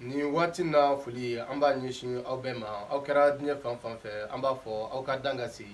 Ni waati na foli an b'a ɲɛsin aw bɛɛ ma aw kɛra diɲɛ fan fan fɛ an b'a fɔ aw ka dan ka se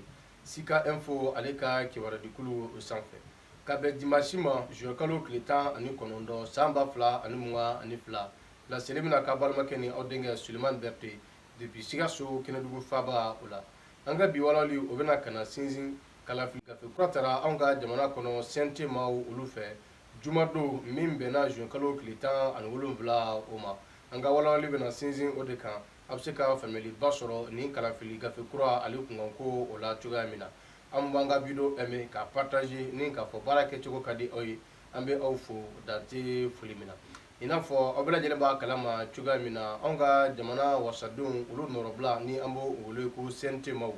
Sika Info ale ka kibaruyadikulu o sanfɛ ka bɛn dimanche ma juin kalo tile tan ani kɔnɔntɔn san ba fila ani mugan ani fila laseli bɛna k'aw balimakɛ ni aw denkɛ Sulemani Berte depuis Sikaso Kɛnɛdugu faaba o la an ka bi walawali o bɛna ka na sinsin kalafili gafe kura tara an ka jamana kɔnɔ CNT maaw olu fɛ Jumadon min bɛnna juin kalo tile 17 o ma, an ka walawali bɛna sinsin o de kan, a bɛ se ka faamuyaliba sɔrɔ nin kalafili gafe kura ale kunkanko o la cogoya min na, an b'an ka wideyo aimer k'a partager ni k'a fɔ baara kɛcogo ka di aw ye, an bɛ aw fo dan tɛ foli min na. i n'a fɔ aw bɛɛ lajɛlen b'a kala ma cogoya min na anw ka jamana wasadenw olu nɔrɔbila ni an b'o wele ko CNT maaw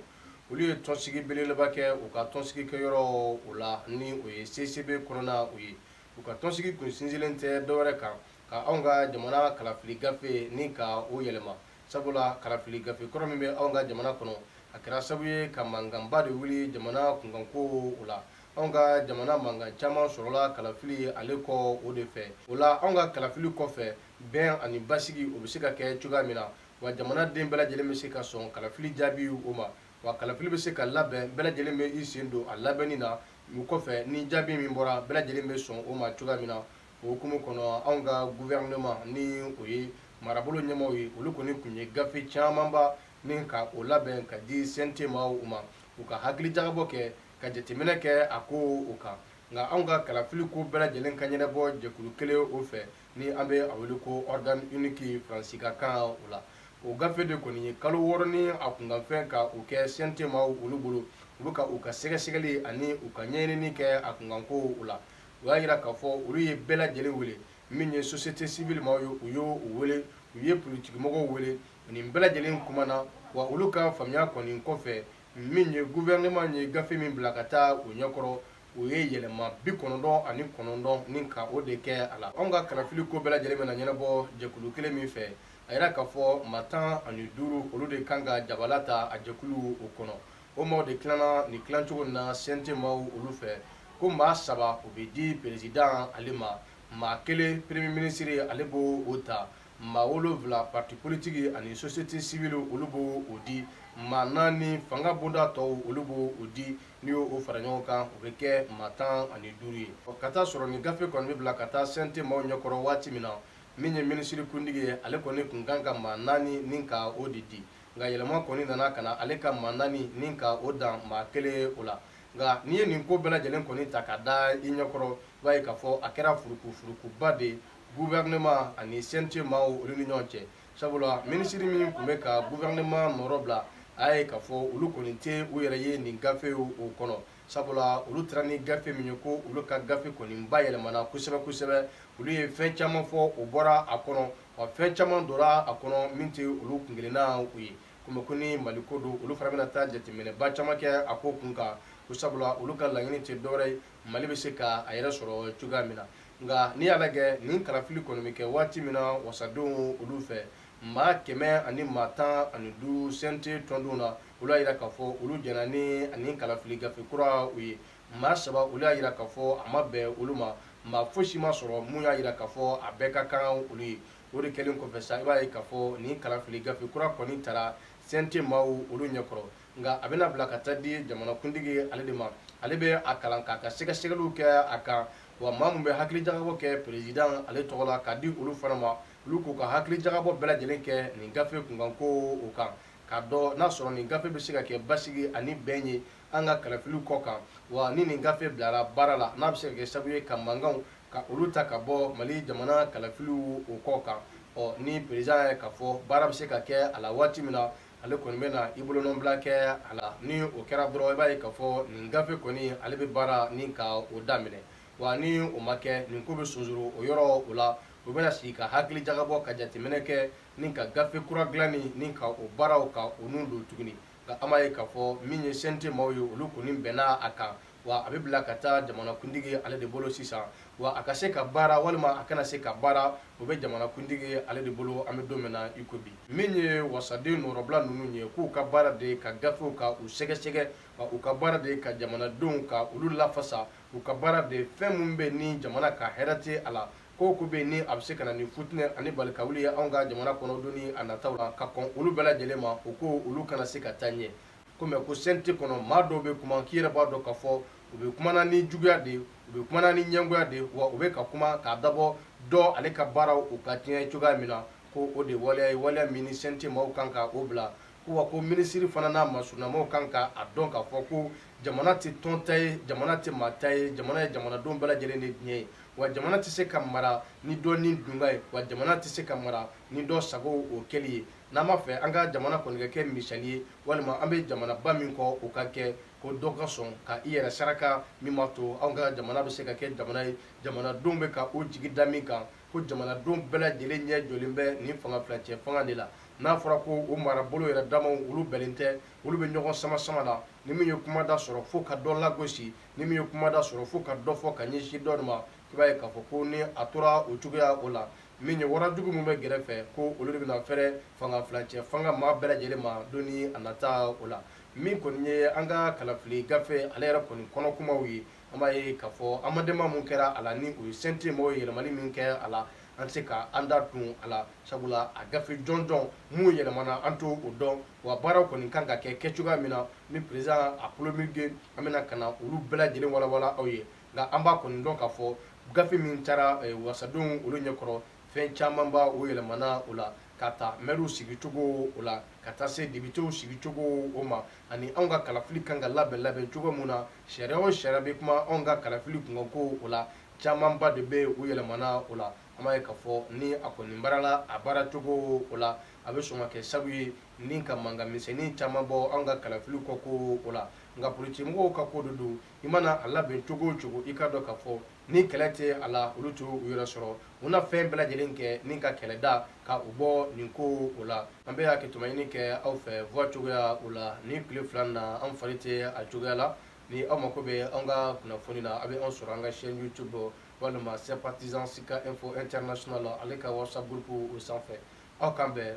olu ye tɔnsigi belebeleba kɛ u ka tɔnsigi kɛyɔrɔ o la ni o ye CICB kɔnɔna o ye u ka tɔnsigi kun sinsinlen tɛ dɔwɛrɛ kan ka anw ka jamana kalafili gafe ni ka o yɛlɛma sabula kalafili gafe kɔrɔ min bɛ anw ka jamana kɔnɔ a kɛra sabu ye ka mankanba de wuli jamana kunkanko o la anw ka jamana mankan caman sɔrɔla kalafili ale kɔ o de fɛ o la anw ka kalafili kɔfɛ bɛn ani basigi o bɛ se ka kɛ cogoya min na wa jamana den bɛɛ lajɛlen bɛ se ka sɔn kalafili jaabi o ma wa kalafili bɛ se ka labɛn bɛɛ lajɛlen bɛ i sen don a labɛnni na o kɔfɛ ni jaabi min bɔra bɛɛ lajɛlen bɛ sɔn o ma cogoya min na o hukumu kɔnɔ anw ka gouvernement ni o ye marabolo ɲɛmaaw ye olu kɔni tun ye gafe camanba ni ka o labɛn ka di CNT maaw ma u ka hakili jagabɔ kɛ ka jateminɛ kɛ a ko o kan nka anw ka kalafili ko bɛɛ lajɛlen ka ɲɛnabɔ jɛkulu kelen o fɛ ni an bɛ a wele ko organe unique Faransi ka kan o la o gafe de kɔni ye kalo wɔɔrɔ ni a kunkanfɛn ka o kɛ CNT maaw olu bolo u bɛ ka u ka sɛgɛsɛgɛli ani u ka ɲɛɲinini kɛ a kunkanko o la u y'a jira k'a fɔ olu ye bɛɛ lajɛlen wele min ye société civile maaw ye u y'o wele u ye politikimɔgɔw wele nin bɛɛ lajɛlen kumana wa olu ka faamuya kɔni kɔfɛ min ye gouvernement ye gafe min bila ka taa u ɲɛkɔrɔ u ye yɛlɛma bi kɔnɔntɔn ani kɔnɔntɔn ni ka o de kɛ a la anw ka kalafili ko bɛɛ lajɛlen bɛna ɲɛnabɔ jɛkulu kelen min fɛ a yira k'a fɔ maa tan ani duuru olu de kan ka jabala ta a jɛkulu o kɔnɔ o maaw de tilana nin tilacogo na CNT maaw olu fɛ ko maa saba o bɛ di perezidan ale ma maa kelen premier minisiri ale b'o ta maa wolonfila parti politique ani société civile olu b'o di maa naani fanga bonda tɔw olu b'o di n'i y'o fara ɲɔgɔn kan o bɛ kɛ maa tan ani duuru ye ka t'a sɔrɔ nin gafe kɔni bɛ bila ka taa CNT maaw ɲɛkɔrɔ waati min na min ye minisiri kuntigi ye ale kɔni tun kan ka maa naani ni ka o de di nka yɛlɛma kɔni nana ka na ale ka maa naani ni ka o dan maa kelen o la nka n'i ye nin ko bɛɛ lajɛlen kɔni ta ka da i ɲɛkɔrɔ i b'a ye k'a fɔ a kɛra furukufurukuba de ye gouvernement ani CNT maaw olu ni ɲɔgɔn cɛ sabula minisiri min tun bɛ ka gouvernement nɔrɔ bila a ye k'a fɔ olu kɔni tɛ u yɛrɛ ye nin gafe o kɔnɔ sabula olu taara ni gafe min ye ko olu ka gafe kɔni bayɛlɛmana kosɛbɛ kosɛbɛ olu ye fɛn caman fɔ o bɔra a kɔnɔ wa fɛn caman donna a kɔnɔ min tɛ olu kunkelenna u ye komi ko ni mali ko don olu fana bɛna taa jateminɛba caman kɛ a ko kun kan ko sabula olu ka laɲini tɛ dɔwɛrɛ ye mali bɛ se ka a yɛrɛ sɔrɔ cogoya min na nka n'i y'a lajɛ nin kalafili kɔni bɛ kɛ waati min na wasadenw olu fɛ maa kɛmɛ ani maa tan ani duuru CNT tɔndenw na olu y'a jira k'a fɔ olu jɛnna ni ani kalafili gafe kura u ye maa saba olu y'a jira k'a fɔ a ma bɛn olu ma maa fosi ma sɔrɔ mun y'a jira k'a fɔ a bɛɛ ka kan olu ye o de kɛlen kɔfɛ sa i b'a ye k'a fɔ nin kalafili gafe kura kɔni taara CNT maaw olu ɲɛkɔrɔ nka a bɛna bila ka taa di jamanakuntigi ale de ma ale bɛ a kalan k'a ka sɛgɛsɛgɛliw kɛ a kan wa maa min bɛ hakili jagabɔ kɛ président ale tɔgɔ la k'a di olu fana ma olu k'u ka hakili jagabɔ bɛɛ lajɛlen kɛ nin gafe kunkanko o kan k'a dɔn n'a sɔrɔ nin gafe bɛ se ka kɛ basigi ani bɛn ye an ka kalafili kɔ kan wa ni nin gafe bilara baara la n'a bɛ se ka kɛ sabu ye ka mankanw ka olu ta ka bɔ mali jamana kalafiliw o kɔ kan ɔ ni président ye k'a fɔ baara bɛ se ka kɛ a la waati min na ale kɔni bɛna i bolonɔnbila kɛ a la ni o kɛra dɔrɔn i b'a ye k'a fɔ nin gafe kɔni ale bɛ baara ni ka o daminɛ wa ni o ma kɛ nin ko bɛ sonsoro o yɔrɔ o la u bɛna sigi ka hakili jagabɔ ka jateminɛ kɛ ni ka gafe kura dilanni ni ka o baaraw ka o n'u don tuguni nka an b'a ye k'a fɔ min ye CNT maaw ye olu kɔni bɛnna a kan wa a bɛ bila ka taa jamanakuntigi ale de bolo sisan wa a ka se ka baara walima a kana se ka baara o bɛ jamanakuntigi ale de bolo an bɛ don min na iko bi min ye wasaden nɔrɔbila ninnu ye k'u ka baara de ye ka gafew ka u sɛgɛsɛgɛ wa u ka baara de ye ka jamanadenw ka olu lafasa u ka baara de ye fɛn min bɛ ni jamana ka hɛrɛ tɛ a la ko o ko bɛ ni a bɛ se ka na ni futinɛ ani balikawuli ye anw ka jamana kɔnɔ don ni a nataw la ka kɔn olu bɛɛ lajɛlen ma o ko olu kana se ka taa ɲɛ Kɔmi ko CNT kɔnɔ maa dɔw bɛ kuma k'i yɛrɛ b'a dɔn k'a fɔ u bɛ kuma na ni juguya de u bɛ kuma na ni ɲɛngoya de wa u bɛ ka kuma k'a dabɔ dɔ ale ka baara u ka tiɲɛ cogoya min na ko o de waleya ye waleya min ni CNT maaw kan ka o bila ko wa ko minisiri fana n'a masurunnamaaw kan ka a dɔn k'a fɔ ko jamana tɛ tɔn ta ye jamana tɛ maa ta ye jamana ye jamanadenw bɛɛ lajɛlen de tiɲɛ ye wa jamana tɛ se ka mara ni dɔ nidungɔ ye wa jamana tɛ se ka mara ni dɔ sago o kɛli ye N'an b'a fɛ an ka jamana kɔni ka kɛ misali ye walima an bɛ jamanaba min kɔ o ka kɛ ko dɔ ka sɔn ka i yɛrɛ saraka min b'a to anw ka jamana bɛ se ka kɛ jamana ye jamanadenw bɛ ka o jigi da min kan ko jamanadenw bɛɛ lajɛlen ɲɛ jɔlen bɛ nin fanga furancɛfanga de la n'a fɔra ko o marabolo yɛrɛ damaw olu bɛnnen tɛ olu bɛ ɲɔgɔn sama sama la ni min ye kumada sɔrɔ fo ka dɔ lagosi ni min ye kumada sɔrɔ fo ka dɔ fɔ ka ɲɛsin dɔ de ma i b'a ye k'a fɔ ko ni a tora o cogoya o la min ye warajugu min bɛ gɛrɛfɛ ko olu de bɛna fɛrɛ fanga filacɛ fanga maa bɛɛ lajɛlen ma don ni a nata o la min kɔni ye an ka kalafili gafe ale yɛrɛ kɔni kɔnɔ kumaw ye an b'a ye k'a fɔ amendement min kɛra a la ni o ye CNT mɔgɔw ye yɛlɛmani min kɛra a la an tɛ se ka an da tun a la sabula a gafe jɔnjɔn min yɛlɛmana an t'o dɔn wa baaraw kɔni kan ka kɛ kɛ cogoya min na ni président a promulgué an bɛna ka na olu bɛɛ lajɛlen walawala aw ye nka an b'a kɔni dɔn k'a fɔ gafe min taara eh, wasadenw olu ɲɛkɔrɔ fɛn camanba o yɛlɛmana o la ka ta mɛriw sigicogo o la ka taa se depitew sigicogo o ma ani anw ka kalafili kan ka labɛn labɛn cogo min na sariya o sariya bɛ kuma anw ka kalafili kunkanko o la camanba de bɛ u yɛlɛmana o la an b'a ye k'a fɔ ni a kɔni baarala a baara cogo o la a bɛ sɔn ka kɛ sabu ye ni ka mankan misɛnnin caman bɔ anw ka kalafili kɔko o la nka politikimɔgɔw ka ko de don i mana a labɛn cogo o cogo i k'a dɔn k'a fɔ ni kɛlɛ tɛ a la olu t'u yɛrɛ sɔrɔ u na fɛn bɛɛ lajɛlen kɛ ni ka kɛlɛ da ka u bɔ nin ko o la an bɛ hakɛto maɲini kɛ aw fɛ voix cogoya o la nin tile fila na an fari tɛ a cogoya la ni aw mako bɛ an ka kunnafoni na a bɛ an sɔrɔ an ka chaîne youtube walima sympathisant sika info international la ale ka whatsapp groupe o sanfɛ aw k'an bɛn